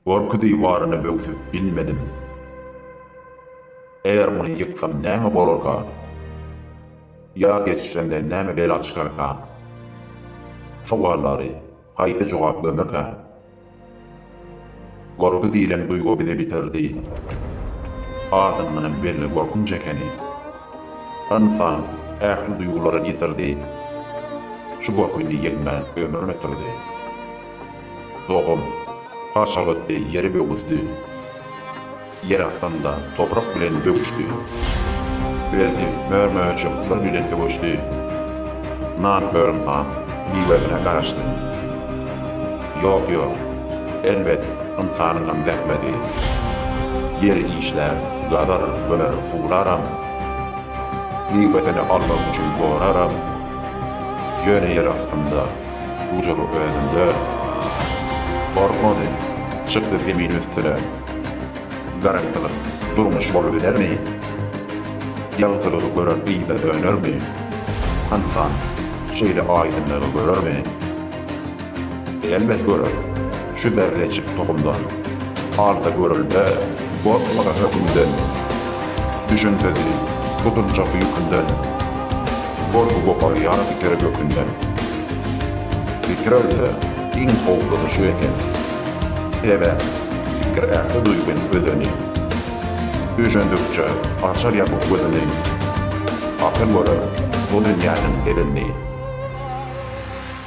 Gorky diwaryny böwsüp bilmedim. Eger muny ýyksam näme bolarka? Ýa geçirende näme bela çykarka? Sowallary haýsy jogap gömerkä? Gorky diýlen duýgy bizi bitirdi. Adyndanam belli gorkunç ekeni. Ynsan ähli duýgularyny ýitirdi. Şu gorky indi ýeňmän ömrüni ýitirdi. Dogum, Haşabatdy ýeri böwüsdi. Ýer aslynda toprak bilen böküşdi. Berdi, mör-möjek bir bilen sögüşdi. Nan hörümsaň miwesine garaşdy. Ýok, ýok, elbet, ynsanyňam zähmedi. Ýer işlär, gazar, böler, suwlaram. Miwesini almak üçin goraram. Ýöne ýer astynda. Dujur özünde. Gorkmady. Çykdy zemin üstüne. Garaňkylyk durmuş bolubilermi? Ýagtylygy gören yza dönermi? Ynsan şeýle aýdyňlygy görermi? Elbet görer. Şu berlejik tohumdan. Alsa görülbe, gorkmaga hökümden. Düşünsezi, gutuljakdy ýükünden. Gorky goparýar fikiry gökünden. Pikir ölse, iň howplusy şu eken. Sebäp, pikir ähli duýgyň özeni. Düşündikçe, açar ýapyk gözüni. Akyl görer bu dünýäniň edenini.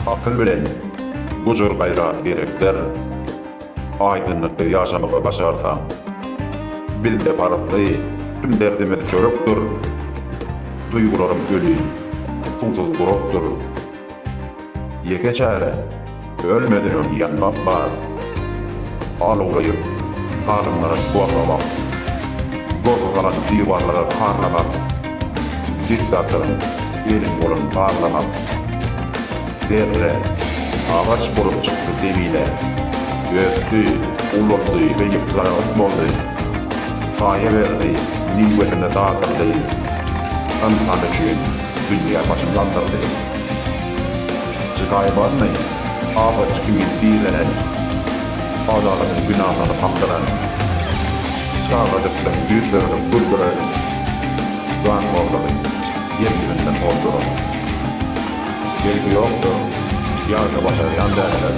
Akyl bilen gujur gaýrat gerekdir. Aýdyňlykda ýaşamagy başarsaň. Bizde parykly tüm derdimiz çörekdir. Duýgularym öli suwsuz gurakdyr. Ýeke çäre ölmeden öň ýanmak bar. Alawlaýyp salymlara gorlamak. Gorky galan diwarlara harlamak. Diktatoryň eli bolan barlamak. Zerre, agaç bolup çykdy zemine. Ösdi, ulaldy we ýypjaragyt boldy. Saýa berdi, miwesini dadyrdy. Ynsan üçin dünýä başyn galdyrdy. Jygaýy barmy, agaç kimin direnen. Adalatyň binalaryny kakdyran. Çagajykdan ýüz öwrüp güldüren. Zatlarlary ýer-ýerinden ozduran. Belki ýokdur, ýa-da başarýan däldir.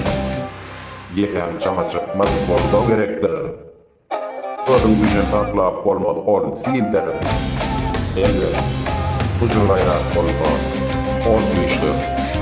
Ýekän çaňa çykmaz bolsa gerekdir. Özüň üçin saklap bolmaz ol sildir. Elbet, gujur-gaýrat bolsa, ol güýçdir.